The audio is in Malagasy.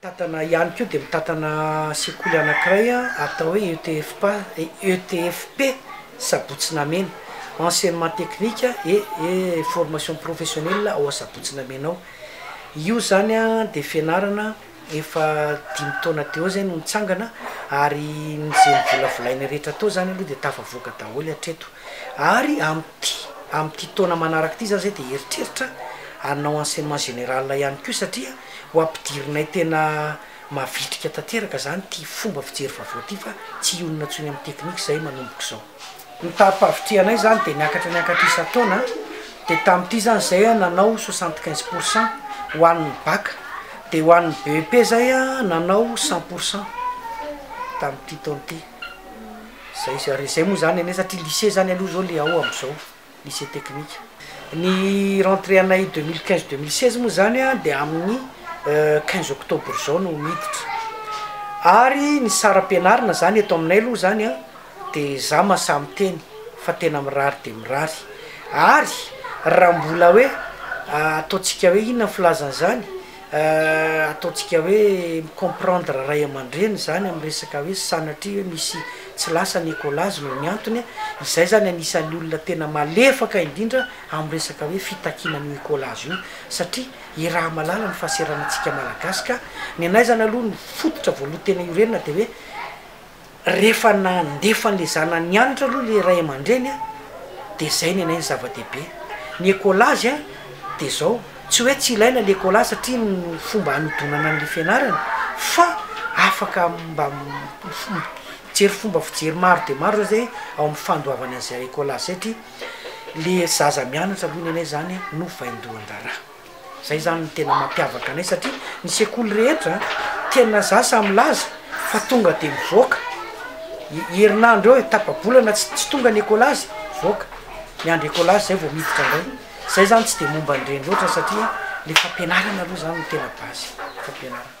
Mitantana ihany koa dia mitantana sekoly anankiray atao hoe ETFPA, ETFP, Sabotsinamena, Enseignement Technique et Formation Professionnelle ao Sabotsinamena ao. Io izany dia fianarana efa dimy taona teo izay no nitsangana ary izay novolavolainay rehetra tao izany aloha dia tafavoaka daholo hatreto. Ary amin'ity amin'ity taona manaraka ity za zay dia eritreritra hanao enseignement général ihany koa satria ho ampidirinay tena mavitrika tanteraka zany ity fomba fijery vaovao ity fa tsy hionona intsony amin'ny technique zahay manomboka izao. Ny tarim-pahavitrihanay zany dia miakatra miakatra isan-taona dia tamin'ity zany zay nanao soixante quinze pour cent ho an'ny bac dia ho an'ny BEP zay nanao cent pour cent tamin'ity taona ity. Zay zay re, zay moa zany anie satria lycée zany aloha zao le ao amzao, lycée technique. Ny rentrée anay deux mille quinze deux mille seize moa zany a de amin'ny quinze octobre zao no miditra, ary ny saram-pianarana zany eto aminay aloha zany a de za masaha miteny fa tena mirary dia mirary, ary raha mbola hoe ataontsika hoe inona ny filazan'izany? Ataontsika hoe mi-comprendre ray aman-dreny izany amin'ny resaka hoe sanatria hoe misy tsy lasa ny écolage noho ny antony, izahay izany anisan'ny olona tena malefaka indrindra amin'ny resaka hoe fitakiana an'io écolage io satria iraha-malala ny fahaseranantsika Malagasy ka ny anay izany aloha ny fototra voaloha tena iorenana dia hoe Rehefa nandefa an'ilay zanany nianatra aloha ilay ray aman-dreny dia izay ny anay ny zava-dehibe. Ny écolage dia izao, tsy hoe tsy ilaina ilay écolage satria ny fomba hanodonana an'ilay fianarana fa afaka mba mijery fomba fijery maro dia maro izao izay ao amin'ny fandoavana an'izay écolage izay satria ilay zaza mianatra aloha ny anay izany no vaindohan-draharaha. Zay zany no tena mampiavaka anay satria ny sekoly rehetra tena za sa milaza fa tonga de mivoaka herinandro eo e tapabolana tsy tsy tonga ny ekolazy mivoaka miandry ekolazy zay vao miditra ndray zay zany tsy de momba an'ireny loatra satria le fampianarana aloha zany no tena base fampianarana